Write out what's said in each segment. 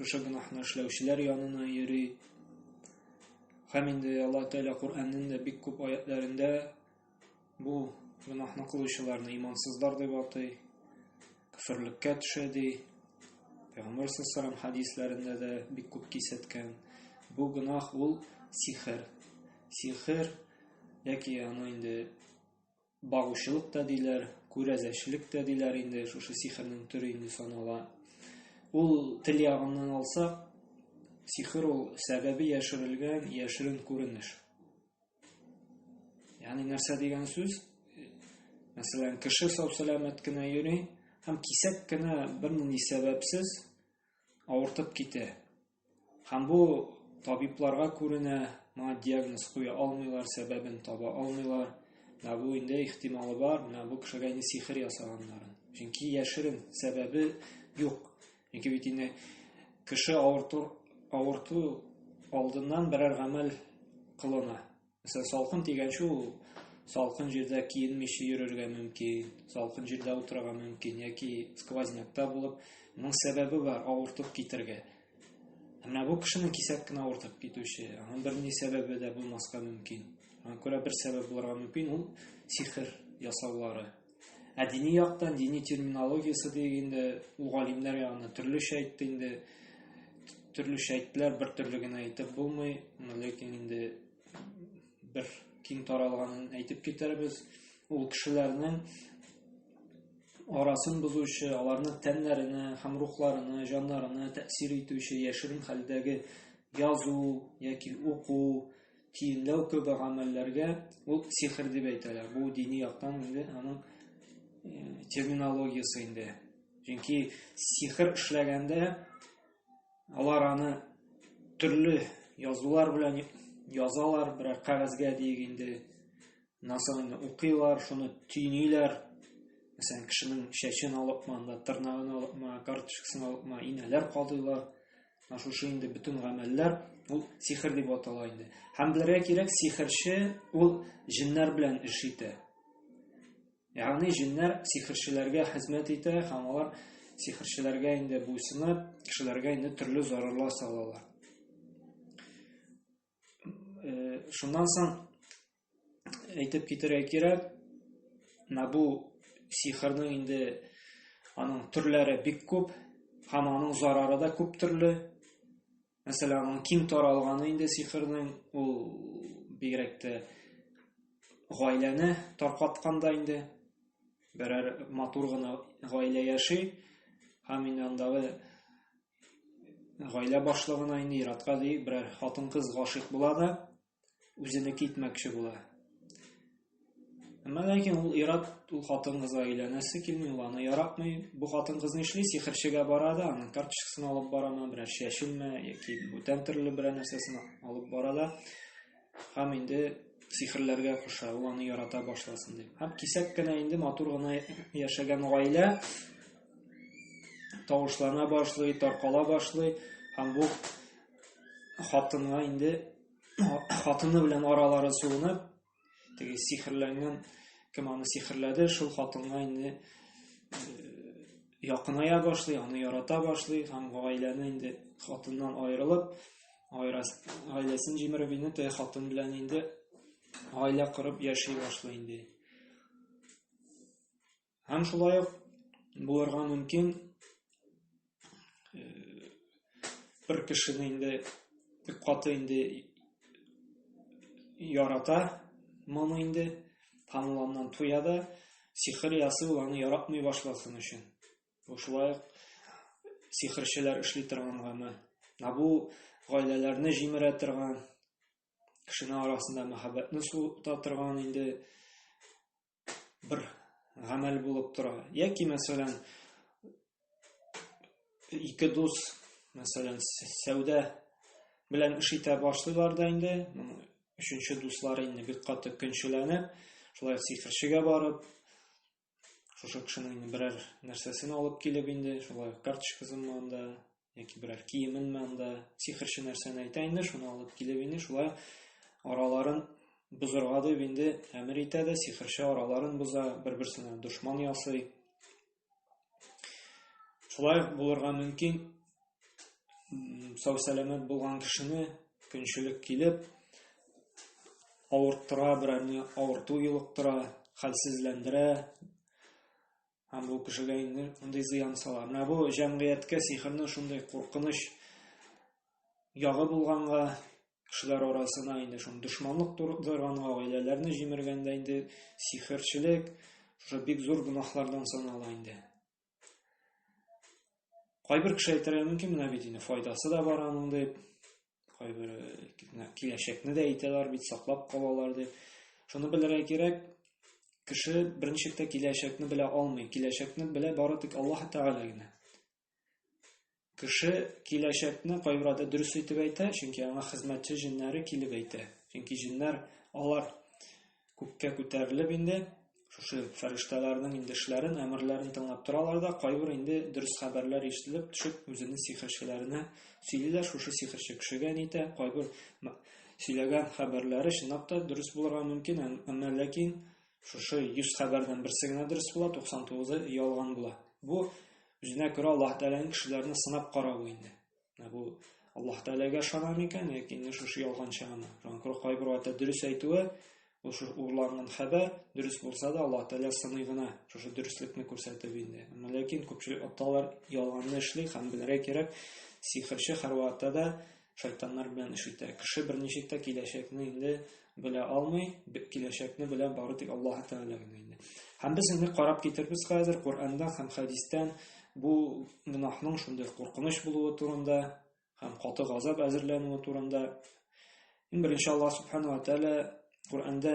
шушы гөнаһны эшләүчеләр янына йөри. Һәм инде Аллаһ Тәгалә Коръәннең дә бик күп аятларында бу гөнаһны кылучыларны имансызлар дип атый, кафирлеккә төшә ди. Пәйгамбер саллаллаху хадисларында да бик күп кисәткән. Бу гөнаһ ул сихер. Сихер яки аны инде Багучылык та диләр, күрәзәчелек тә диләр инде, шушы сихернең төре инде санала. Ул тел ягыннан алсак, сихер ул сәбәбе яшерелгән яшерен күренеш. Ягъни нәрсә дигән сүз? Мәсәлән, кеше сау-сәламәт кенә йөри һәм кисәк кенә бернинди сәбәпсез авыртып китә. Һәм бу табибларга күренә, моңа диагноз куя алмыйлар, сәбәбен таба алмыйлар. Менә бу инде ихтималы бар, менә бу кешегә инде сихер ясаганнарын. Чөнки яшерен сәбәбе юк. Чөнки бит инде кеше авырту, авырту алдыннан берәр гамәл кылына. Мәсәлән, салкын дигәнче ул салкын җирдә киенмичә йөрергә мөмкин, салкын җирдә утырырга мөмкин яки сквознякта булып, моның сәбәбе бар, авыртып китергә. Менә бу кешенең кисәк кенә авыртып китүче, аның берни сәбәбе дә булмаска мөмкин. Аңа күрә бер сәбәп булырга мөмкин, ул сихер ясаулары. Ә дини яктан, дини терминологиясе диек инде, ул галимнәр ягына төрлечә әйтте инде, төрлечә әйттеләр, бер төрле генә әйтеп булмый, ләкин инде бер киң таралганын әйтеп китербез. Ул кешеләрнең арасын бозучы, аларның тәннәренә һәм рухларына, җаннарына тәэсир итүче яшерен хәлдәге язу яки уку, тиенләү кебек гамәлләргә ул сихер дип әйтәләр. Бу дини яктан инде аның э, терминологиясе инде. Чөнки сихер эшләгәндә алар аны төрле язулар белән язалар, берәр кәгазьгә диек инде. нәрсәне инде укыйлар, шуны төйниләр. Мәсәлән, кешенең чәчен алыпмы, анда тырнагын алыпмы, карточкасын алыпмы, инәләр кадыйлар. Шушы инде бөтен гамәлләр ул сихер дип атала инде. Һәм белергә кирәк, сихерче ул җиннәр белән эш итә. Ягъни җиннәр сихерчеләргә хезмәт итә һәм алар сихерчеләргә инде буйсынып, кешеләргә инде төрле зарарлар салалар. Э, шуннан соң әйтеп китерә кирәк, менә бу сихрның инде аның төрләре бик күп һәм аның зарары да күп төрле. Мәсәлән, аның киң таралганы инде сихрның ул бигрәк тә гаиләне таркатканда инде берәр матур гына гаилә яши һәм инде андагы Гаилә башлыгына инде иратка ди, берәр хатын-кыз гашыйк була да, үзене китмәкче була. Әмма ләкин ул ират ул хатын-кызга өйләнәсе килми, ул аны яратмый. Бу хатын-кыз нишли? Сихерчегә бара да, аның карточкасын алып барамы, берәр чәчелме, яки бүтән төрле берәр нәрсәсен алып бара да. Һәм инде сихерләргә куша, ул аны ярата башласын дип. Һәм кисәк кенә инде матур гына яшәгән гаилә тавышлана башлый, таркала башлый һәм бу хатынга инде хатыны белән аралары суынып, теге сихерләнгән кем аны сихерләде, шул хатынга инде э, якыная башлый, аны ярата башлый һәм гаиләне инде хатыннан аерылып, Айрас гаиләсен җимереп инде теге хатын белән инде гаилә корып яши башлый инде. Һәм шулай ук булырга мөмкин бер кешене инде бик каты инде ярата моны инде һәм ул аннан туя да сихер ясый ул аны яратмый башласын өчен Шулай ук сихерчеләр эшли торган гамәл. Ә бу гаиләләрне җимерә торган, кешенең арасында мәхәббәтне суыта торган инде бер гамәл булып тора. Яки, мәсәлән, ике дус, мәсәлән, сәүдә белән эш итә башлыйлар да инде, өченче дуслар инде бик каты көнчеләнеп, шулай сихерчегә барып, шушы кешенең берәр нәрсәсен алып килеп инде шулай карточкасынмы анда яки берәр киеменме анда сихерче нәрсәне әйтә инде шуны алып килеп инде шулай араларын бозырга дип инде әмер итә дә сихерче араларын боза бер берсенә дошман ясый шулай булырга мөмкин сау сәламәт булган кешене көнчелек килеп авырттыра берәрне авырту юлыктыра хәлсезләндерә һәм бу кешегә инде мондый зыян сала менә бу җәмгыятькә сихернең шундый куркыныч ягы булганга кешеләр арасына инде шуны дошманлык тудырганга гаиләләрне җимергәндә инде сихерчелек шушы бик зур гөнаһлардан санала инде Кайбер кеше әйтергә мөмкин, менә бит инде файдасы да бар аның дип. Кайбер киләчәкне дә әйтәләр бит, саклап калалар дип. Шуны белергә кирәк, кеше беренче киләчәкне белә алмый. Киләчәкне белә бары тик Аллаһ Тәгалә генә. Кеше киләчәкне кайберәүдә дөрес итеп әйтә, чөнки аңа хезмәтче җеннәре килеп әйтә. Чөнки җеннәр алар күккә күтәрелеп инде, шушы фәрештәләрнең инде эшләрен, әмерләрен тыңлап торалар да, кайбер инде дөрес хәбәрләр ишетелеп төшеп, үзенең сихерчеләренә сөйлиләр, шушы сихерче кешегә нитә, кайбер сөйләгән хәбәрләре чынлап та дөрес булырга мөмкин, әмма ләкин Шушы 100 хәбәрдән берсе генә дөрес була, 99-ы ялган була. Бу үзенә күрә Аллаһ Тәгаләнең кешеләрне сынап каравы инде. Менә бу Аллаһ Тәгаләгә ышана микән яки инде шушы ялганчы гына? Шуңа кайбер вакытта дөрес әйтүе, ул шушы урланган хәбәр дөрес булса да, Аллаһ Тәгалә сыный гына шушы дөреслекне күрсәтеп инде. Әмма ләкин күпчелек аталар ялганны эшли һәм белергә кирәк, сихерче һәрвакытта да шайтаннар белән эш итә. Кеше берничек тә киләчәкне инде белә алмый, киләчәкне белә бары тик Аллаһ Тәгалә генә инде. Һәм без инде карап китербез хәзер Коръәндә һәм хәдистән бу гөнаһның шундый куркыныч булуы турында һәм каты газап әзерләнүе турында. Иң беренче Аллаһ Субхану ва Тәгалә Коръәндә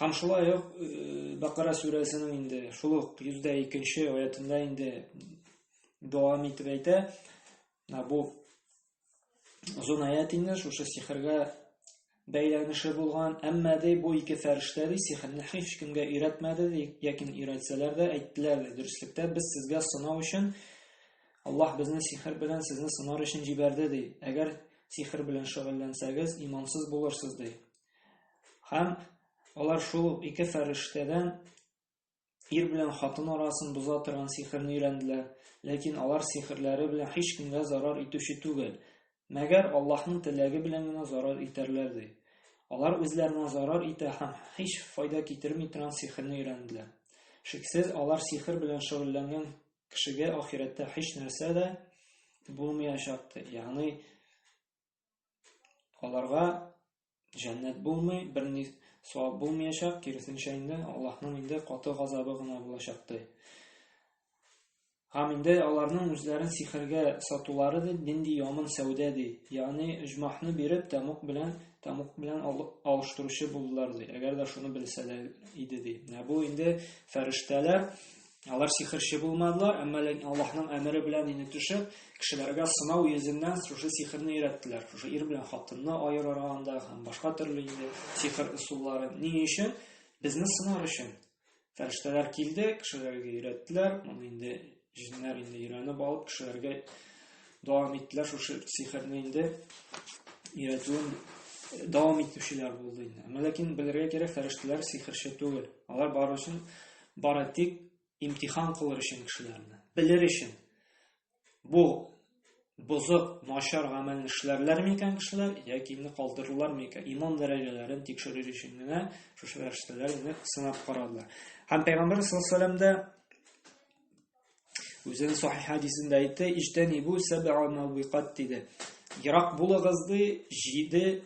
Һәм шулай ук э, Бакара сүрәсенең инде шул ук 102-нче аятында инде дәвам итеп әйтә, бу озын аят инде шушы сихергә бәйләнеше булган, әмма ди бу ике фәрештә ди сихерне һич кемгә өйрәтмәде ди, яки өйрәтсәләр дә әйттеләр ди, дөреслектә без сезгә сынау өчен Аллаһ безне сихер белән сезне сынар өчен җибәрде ди. Әгәр сихер белән шөгыльләнсәгез, имансыз булырсыз ди. Һәм алар шул ике фәрештәдән ир белән хатын арасын боза торган сихерне өйрәнделәр, ләкин алар сихерләре белән һич кемгә зарар итүче түгел. Мәгәр Аллаһның теләге белән генә зарар итәрләр ди. Алар үзләренә зарар итә һәм һич файда китерми торган сихерне өйрәнделәр. Шиксез, алар сихер белән шөгыльләнгән кешегә ахирәттә һич нәрсә дә булмаячактыр. Ягъни аларга җәннәт булмый, берни савап булмаячак, киресенчә инде Аллаһның инде каты газабы гына булачак ди. Һәм инде аларның үзләрен сихергә сатулары да нинди яман сәүдә ди. Ягъни ижмахны биреп тамук белән тамук белән алыштыручы булдылар ди. Әгәр дә шуны белсәләр иде ди. Менә бу инде фәрештәләр Алар сихерче булмадылар, әмма ләкин Аллаһның әмере белән инде төшеп, кешеләргә сынау йөзеннән шушы сихерне өйрәттеләр. Шушы ир белән хатынны аерырга анда һәм башка төрле инде сихер ысуллары. Ни өчен? Безне сынар өчен. Фәрештәләр килде, кешеләргә өйрәттеләр. Моны инде җиннәр инде өйрәнеп алып, кешеләргә дәвам иттеләр шушы сихерне инде өйрәтүен дәвам итүчеләр булды инде. Әмма ләкин белергә кирәк, фәрештәләр сихерче түгел. Алар барысын Бары тик имтихан кылыр өчен кешеләрне, белер өчен. Бу бозык, начар гамәлне эшләрләр микән кешеләр, яки инде калдырырлар микән? Иман дәрәҗәләрен тикшерер өчен генә шушы фәрештәләрне сынап карадылар. Һәм Пәйгамбер саллаллаху алейһи вәсәлләм дә Үзен сахи хадисендә әйтте, "Иҗтәни бу сәбәа мәвиқат" диде. Ерак булыгыз ди, җиде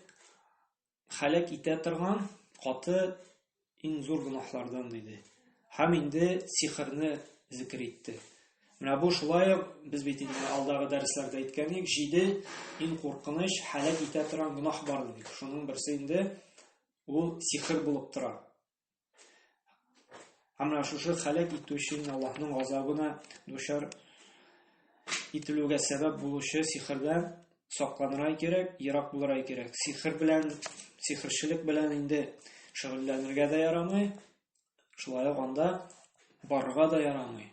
халәк итә торган каты иң зур гөнаһлардан диде. Һәм инде сихрны зикр итте. Менә бу шулай ук без бит инде алдагы дәресләрдә әйткән идек, җиде иң куркыныч халәк итә торган гөнаһ бар дип. Шуның берсе инде ул сихр булып тора. Һәм шушы халәк итүче Аллаһның газабына дучар ителүгә сәбәп булучы сихрдан сакланырга кирәк, ерак булырга кирәк. Сихр белән, сихрчелек белән инде шөгыльләнергә дә ярамый, шулай ук анда барырга да ярамый.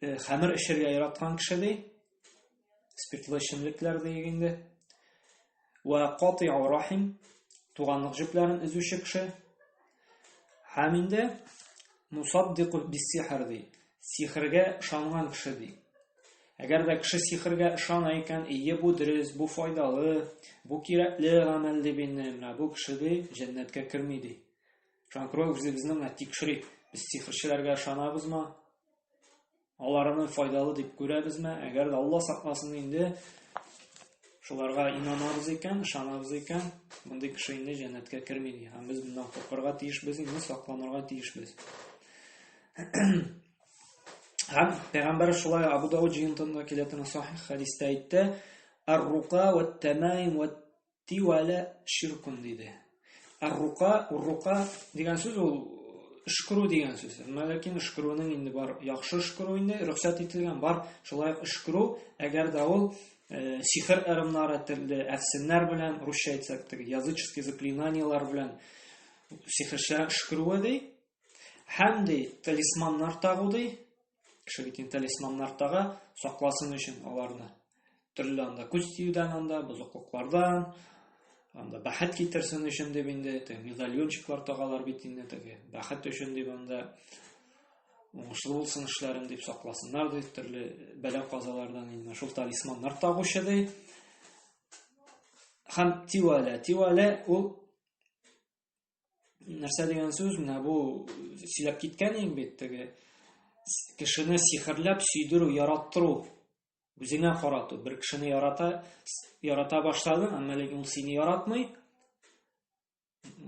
э, хәмер эчәргә яраткан кеше ди спиртлы эчемлекләр диек инде вә катиу рахим туганлык җепләрен өзүче кеше һәм инде мусаддику биссихр ди сихргә ышанган кеше ди әгәр дә кеше сихргә ышана икән ие бу дөрес бу файдалы бу кирәкле гамәл дип инде менә бу кеше ди җәннәткә керми ди Жанкрой үзебезне менә тикшерик. Без сихерчеләргә ышанабызмы? Аларны файдалы дип күрәбезме? Әгәр дә Алла сакласын инде шуларга инанабыз икән, ышанабыз икән, мондый кеше инде җәннәткә керми ди. Һәм без моннан куркырга тиешбез, инде сакланырга тиешбез. Һәм пәйгамбәр шулай Абу Дауд җыентында килә торган сахих хадистә әйтте: "Ар-рука ва тамаим ва тиу әле ширкун диде. Аррука, уррука дигән сүз ул өшкерү дигән сүз. Ләкин өшкерүнең инде бар яхшы өшкерү инде рөхсәт ителгән бар. Шулай өшкерү, әгәр дә ул э, сихер ырымнары телле әфсеннәр белән, русча әйтсәк, теге языческие заклинанияләр белән сихерчә өшкерүе ди. Һәм ди талисманнар тагу ди. Кеше битен талисманнар тага, сакласын өчен аларны. Төрле анда күз тиюдән анда, бозыклыклардан, анда бәхет китерсен өчен дип инде, теге медальончиклар тагалар бит инде, теге бәхет өчен дип анда уңышлы булсын эшләрем дип сакласыннар ди, төрле бәлә казалардан инде шул талисманнар тагучы ди. Һәм тивалә, тивалә ул нәрсә дигән сүз менә бу сөйләп киткән иң бит теге кешене сихерләп сөйдерү яраттыру үзеңә карату бер кешене ярата ярата башладың әмма ләкин ул сине яратмый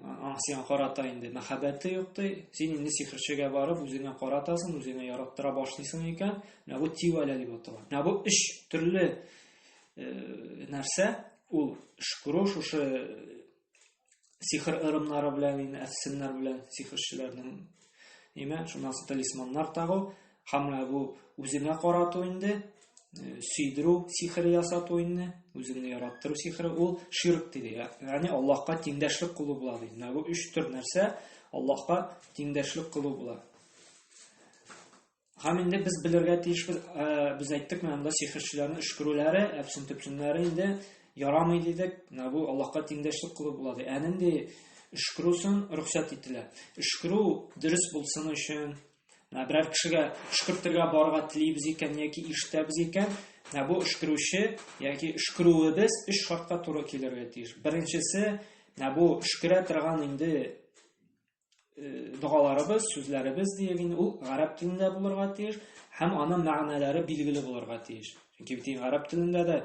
аң сиңа карата инде мәхәббәте юк ди син инде сихерчегә барып үзеңә каратасың үзеңә яраттыра башлыйсың икән менә бу тивәлә дип атала менә бу өч төрле э, нәрсә ул шкуру шушы сихр ырымнары белән инде әфсеннәр белән сихерчеләрнең нимә шуннан соң талисманнар тагу һәм бу үзеңә карату инде э, сөйдерү сихере ясату инде үзеңне яраттыру сихере ул ширк диде яғни аллаһка тиңдәшлек кылу була ди менә бу өч төр нәрсә аллаһка тиңдәшлек кылу була Һәм инде без белергә тиешбез, э, без әйттек менә монда сихерчеләрнең өшкерүләре, әпсен төпченнәре инде ярамый дидек. Менә бу Аллаһка тиңдәшлек кылу була ди. Ә нинди өшкерүсен рөхсәт ителә. Өшкерү дөрес булсын өчен, менә берәр кешегә өшкертергә барырга телибез икән яки ишетәбез икән, менә бу өшкерүче яки өшкерүебез өч шартка туры килергә тиеш. Беренчесе, менә бу өшкерә торган инде э, догаларыбыз, сүзләребез диеп инде ул гарәп телендә булырга тиеш һәм аның мәгънәләре билгеле булырга тиеш. Чөнки бит гарәп телендә дә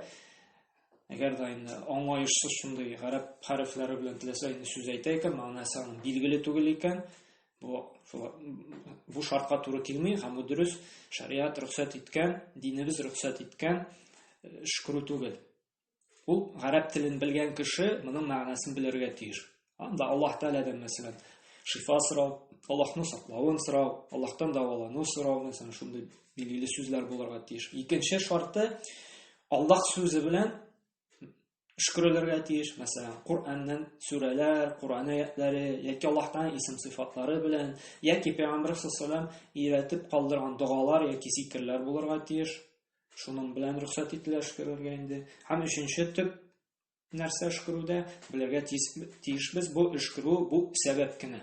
әгәр дә инде аңлаешсыз шундый гарәп хәрефләре белән теләсә инде сүз әйтә икән, мәгънәсе аның билгеле түгел икән, бу бу шартка туры килми һәм бу дөрес шариат рөхсәт иткән, динебез рөхсәт иткән э, шкру түгел. Ул гарәп телен белгән кеше моның мәгънәсен белергә тиеш. Анда Аллаһ Тәгаләдән мәсәлән шифа сорау, Аллаһны саклавын сорау, Аллаһтан дәвалану сорау, мәсәлән, шундый билгеле сүзләр булырга тиеш. Икенче шарты Аллаһ сүзе белән шөкрәләргә тиеш, мәсәлән, Кураннан сүрәләр, Куран аятлары яки Аллаһтан исем сыйфатлары белән, яки Пәйгамбәр саллаллаһу алейһи ва калдырган догалар яки зикерләр булырга тиеш. Шуның белән рөхсәт ителә эшкәрергә инде. Һәм өченче төп нәрсә эшкәрүдә белергә тиешбез, бу эшкәрү бу сәбәп кенә.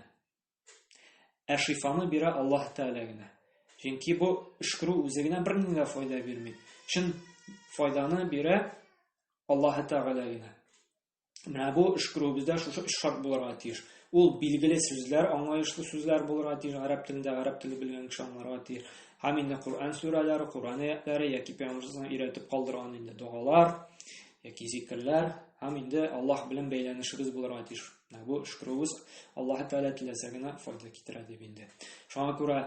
Ә шифаны бирә Аллаһ Тәгалә генә. Чөнки бу эшкәрү үзе генә бернинди дә файда бирми. Чын файданы бирә Аллаһ Тәгалә генә. Менә бу өшкерүебездә шушы өч шарт булырга тиеш. Ул билгеле сүзләр, аңлаешлы сүзләр булырга тиеш, гарәп телендә гарәп теле белгән кеше аңларга тиеш. Һәм инде Коръән сүрәләре, Коръән аятлары яки пәйгамбәрнең өйрәтеп калдырган инде догалар яки зикерләр һәм инде Аллаһ белән бәйләнешебез булырга тиеш. Менә бу өшкерүебез Аллаһ Тәгалә теләсә генә файда китерә дип инде. Шуңа күрә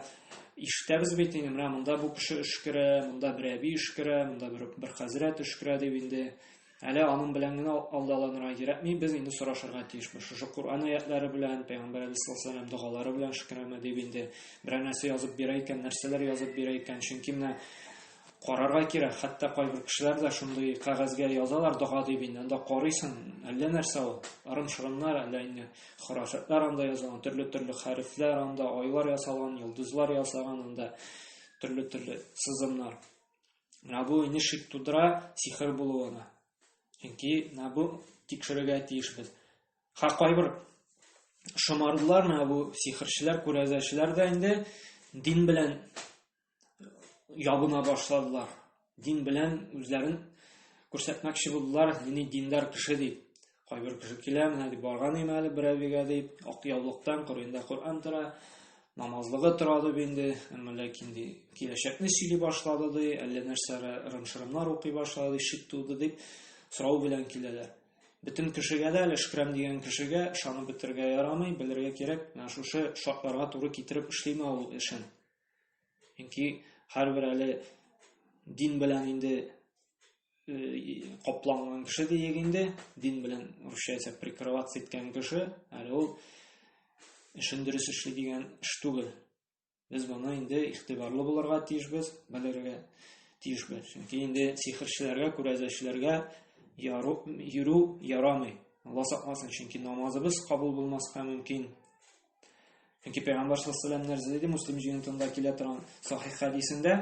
ишетәбез бит инде менә монда бу кеше өшкерә, монда бер әби өшкерә, монда бер, бер хәзрәт өшкерә дип инде. Әле аның белән генә алдаланырга кирәкми, без инде сорашырга тиешбез. Шушы Коръән аятлары белән, Пәйгамбәр алейһиссалам догалары белән шөкерәмә дип инде берәр нәрсә язып бирә икән, нәрсәләр язып бирә икән. Чөнки менә карарга кирәк. Хәтта кайбер кешеләр дә шундый кәгазьгә язалар дога дип инде. Анда карыйсың, әллә нәрсә ул. Ырым-шырымнар, әллә инде хорафәтләр анда язылган, төрле-төрле хәрефләр анда, айлар ясалган, йолдызлар ясаган анда, төрле-төрле сызымнар. Менә бу инде шик тудыра сихер булуына. Чөнки менә бу тикшерергә тиешбез. Ха кайбер шомарлар менә бу сихерчеләр, күрәзәчеләр дә инде дин белән ябына башладылар. Дин белән үзләрен күрсәтмәкче булдылар, дини диндар кеше дип. Кайбер кеше килә, менә дип барган име әле бер әбигә дип, ак яулыктан кырыенда Коръән тора, намазлыгы тора дип инде, әмма ләкин ди, киләчәкне сөйли башлады ди, әллә нәрсә рымшырымнар укый башлады ди, шик туды дип сорау белән киләләр. Бөтен кешегә дә әле шкрам дигән кешегә ышанып бетергә ярамый, белергә кирәк, менә шушы шартларга туры китереп эшлиме ул эшен. Чөнки һәрбер әле дин белән инде капланган кеше диек инде дин белән русча әйтсәк прикрываться иткән кеше әле ул эшен дөрес эшли дигән эш түгел без моны инде игътибарлы булырга тиешбез белергә тиешбез чөнки инде сихерчеләргә күрәзәчеләргә йөрү ярамый алла сакласын чөнки намазыбыз кабул булмаска мөмкин чөнки пәйгамбәр саллаллаху алейхи нәрсә диде муслим җыентында килә торган сахих хәдисендә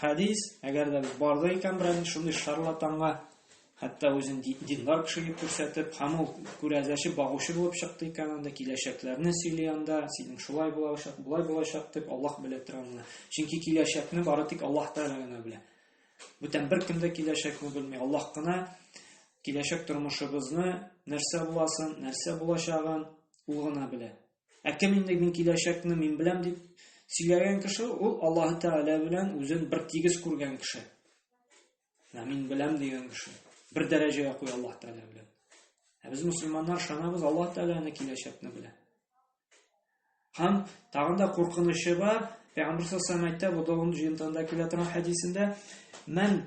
хәдис, әгәр дә барды икән берәр шундый шарлатанга, хәтта үзен диндар кеше дип күрсәтеп, һәм ул күрәзәче багучы булып чыкты икән анда, киләчәкләрне сөйли анда, синең шулай булачак, болай булачак дип Аллаһ белә тора аны. Чөнки киләчәкне бары тик Аллаһ Тәгалә генә белә. Бүтән бер кем дә киләчәкне белми. Аллаһ кына киләчәк тормышыбызны нәрсә буласын, нәрсә булачагын ул гына белә. Ә кем инде мин киләчәкне мин беләм дип сөйләгән кеше, ул Аллаһ Тәгалә белән үзен бер тигез күргән кеше. Менә мин беләм дигән кеше. Бер дәрәҗәгә куй Аллаһ Тәгалә белән. Ә без мусульманнар шанабыз Аллаһ Тәгаләне киләчәкне белә. Һәм тагын да куркынычы бар, Пәйгамбер сәлләһу әйтә, бу да җыентыгында килә торган хәдисендә, "Мен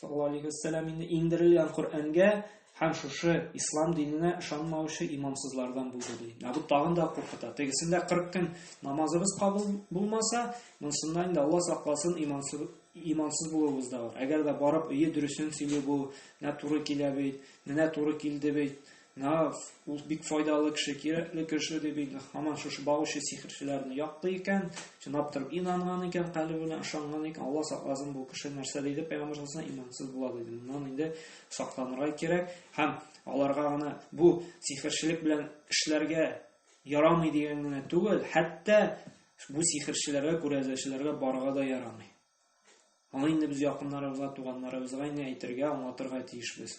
Саллаллаху алейхи вәссәлам инде иңдерелгән Коръәнгә һәм шушы ислам диненә ышанмаучы имамсызлардан булды ди. Ә бу тагын да куркыта. Тегесендә 40 көн намазыбыз кабул булмаса, монсында инде Алла сакласын имансыз имансыз булуыбыз да бар. Әгәр дә барып өе дөресен сөйли бу, менә туры килә бит, менә туры килде бит, Нав, ул бик файдалы кеше, кирәкле кеше дип инде һаман шушы багучы сихерчеләрне яклый икән, чынлап торып инанган икән, калебе белән ышанган икән, Алла сакласын, бу кеше нәрсә диде пәйгамбер саллаллаһу алейһи имансыз була диде. Моннан инде сакланырга кирәк һәм аларга гына бу сихерчелек белән эшләргә ярамый дигән генә түгел, хәтта бу сихерчеләргә, күрәзәчеләргә барга да ярамый. Аны инде без якыннарыбызга, туганнарыбызга инде әйтергә, аңлатырга тиешбез.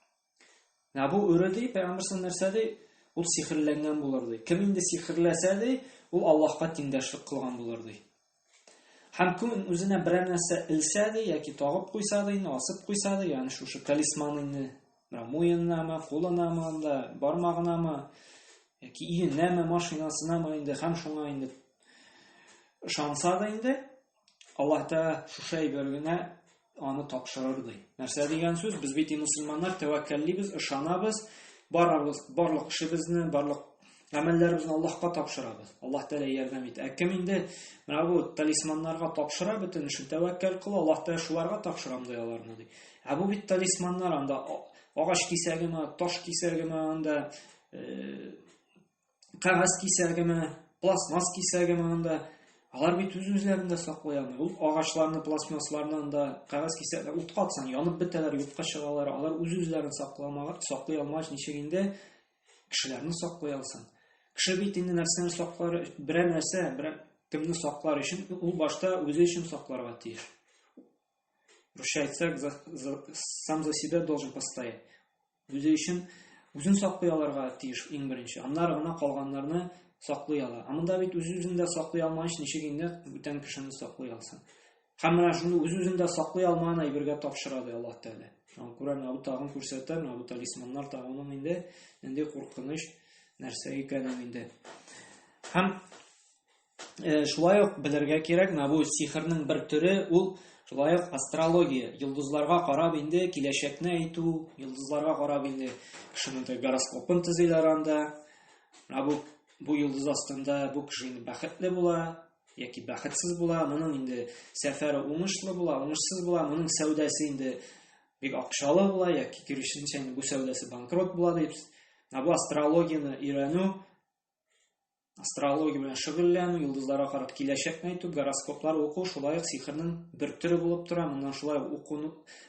Ә бу өрә ди, пәйгамбер сан нәрсә ди? Ул сихерләнгән булыр ди. Кем инде сихерләсә ди, ул Аллаһка тиңдәшлек кылган булыр ди. Һәм күн үзенә берәр нәрсә илсә ди, яки тагып куйса ди, асып куйса ди, ягъни шушы талисман инде, муеннамы, кулынамы анда, бармагынамы, яки иеннәме, машинасынамы инде, һәм шуңа инде ышанса да инде, Аллаһ Тәгалә шушы әйбер генә аны тапшырыр ди. Нәрсә дигән сүз? Без бит мусламаннар, тәвәккәллибез, ышанабыз, барабыз, барлык эшебезне, барлык гамәлләребезне Аллаһка тапшырабыз. Аллаһ Тәгалә ярдәм итә. Ә кем инде менә бу талисманнарга тапшыра бөтен эшен, тәвәккәл кыла, Аллаһ Тәгалә шуларга тапшырам ди аларны ди. Ә бу бит талисманнар анда агач кисәгеме, таш кисәгеме анда э, кәгазь кисәгеме, пластмасс кисәгеме анда, алар бит үз-үзләрен дә саклый алмый. Ул агачларны, пластмассларны анда кәгазь кисәгенә утка атсаң, янып бетәләр, юкка чыгалар. Алар үз-үзләрен сакламага, саклый алмагач, ничек инде кешеләрне саклый алсын? Кеше бит инде нәрсәне саклар, берәр нәрсә, берәр кемне саклар өчен, ул башта үзе өчен сакларга тиеш. Русча әйтсәк, сам за себя должен постоять. үзе өчен үзен саклый алырга тиеш иң беренче. Аннары гына калганнарны саклый ала. Ә монда бит үз-үзен дә саклый алмагач, ничек инде бүтән кешене саклый алсын? Һәм менә шуны үз-үзен дә саклый алмаган әйбергә тапшыра ди Аллаһ Тәгалә. Шуны күрәм, Абу Тагын күрсәтә, менә бу талисманнар тагының инде нинди куркыныч нәрсә икәнен инде. Һәм Э, шулай ук белергә кирәк, менә бу сихрның бер төре, ул шулай ук астрология, йолдызларга карап инде киләчәкне әйтү, йолдызларга карап инде кешенең гороскопын төзиләр анда. Менә бу бу йолдыз астында бу кеше инде бәхетле була яки бәхетсез була, моның инде сәфәре уңышлы була, уңышсыз була, моның сәүдәсе инде бик акчалы була яки киресенчә инде бу сәүдәсе банкрот була дип. Менә бу астрологияне өйрәнү Астрология белән шөгыльләнү, йолдызларга карап киләчәкне әйтү, гороскоплар уку шулай ук сихернең бер төре булып тора. Моннан шулай уку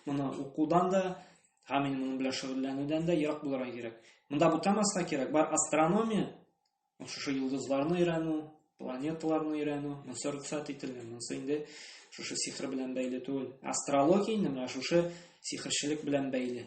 моны укудан да, һәм инде моның белән шөгыльләнүдән дә ерак булырга кирәк. Монда бутамаска кирәк. Бар астрономия, шушы йолдызларны өйрәнү, планеталарны өйрәнү, монсы рөхсәт ителгән. Монсы инде шушы сихер белән бәйле түгел. Астрология инде менә шушы сихерчелек белән бәйле.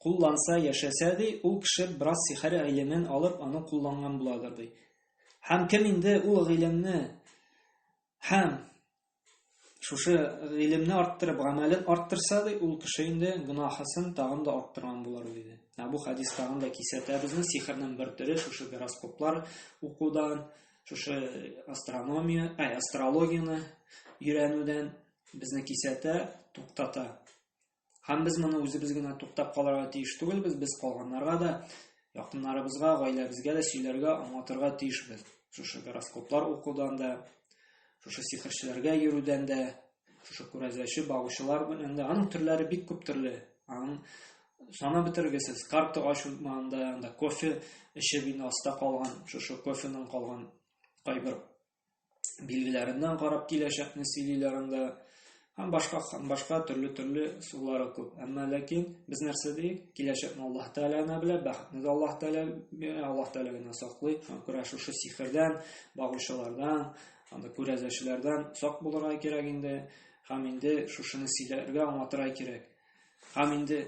кулланса, яшәсә, ди, ул кеше бераз сихәр гыйлемен алып, аны кулланган буладыр, ди. Һәм кем инде ул гыйлемне һәм шушы гыйлемне арттырып, гамәлен арттырса, ди, ул кеше инде гынахасын тагын да арттырган булар, диде. Ә бу хадис тагын да кисәтә безне сихернең бер төре, шушы гороскоплар укудан, шушы астрономия, ай, астрологияне өйрәнүдән безне кисәтә, туктата. Һәм без моны үзебез генә туктап калырга тиеш түгелбез, без калганнарга да, якыннарыбызга, гаиләбезгә дә сөйләргә, аңлатырга тиешбез. Шушы гороскоплар укудан да, шушы сихерчеләргә йөрүдән дә, шушы күрәзәче багучылар белән дә, аның төрләре бик күп төрле. Аның сана бетергесез, карта ачылмаганда, анда кофе эчеп инде аста калган, шушы кофеның калган кайбер билгеләреннән карап киләчәкне сөйлиләр анда һәм башка һәм башка төрле төрле сулары күп әмма ләкин без нәрсә диик киләчәкне аллаһ тәала генә белә бәхетне дә аллаһ тәала бирә аллаһ тәала генә саклый һәм күрә шушы сихердән багучылардан анда күрәзәчеләрдән сак булырга кирәк инде һәм инде шушыны сөйләргә аңлатырга кирәк Һәм инде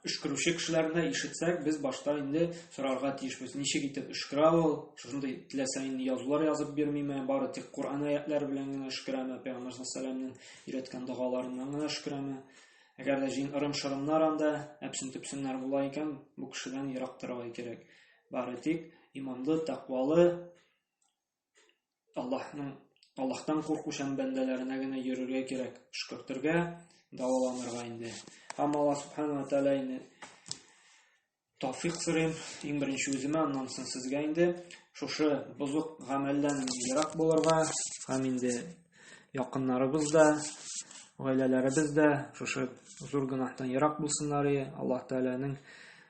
өшкерүче кешеләрне ишетсәк, без башта инде сорарга тиешбез, ничек итеп өшкерә ул, шушындый теләсә инде язулар язып бирмиме, бары тик Коръән аятлары белән генә өшкерәме, Пәйгамбәр саллаллаһу өйрәткән догаларыннан гына өшкерәме? Әгәр дә җин ырым-шырымнар анда әпсен-төпсеннәр була икән, бу кешедән ерак торырга кирәк. Бары тик иманлы, тәкъвалы, Аллаһның Аллаһтан куркучан бәндәләренә генә йөрергә кирәк, шөкертергә, дәваланырга инде. Һәм Аллаһ субханала тәала инде тауфик сорыйм, иң беренче үземә, аннан соң сезгә инде шушы бозык гамәлдән ерак булырга һәм инде якыннарыбыз да, гаиләләребез дә шушы зур гөнаһтан ерак булсыннар, Аллаһ Тәгаләнең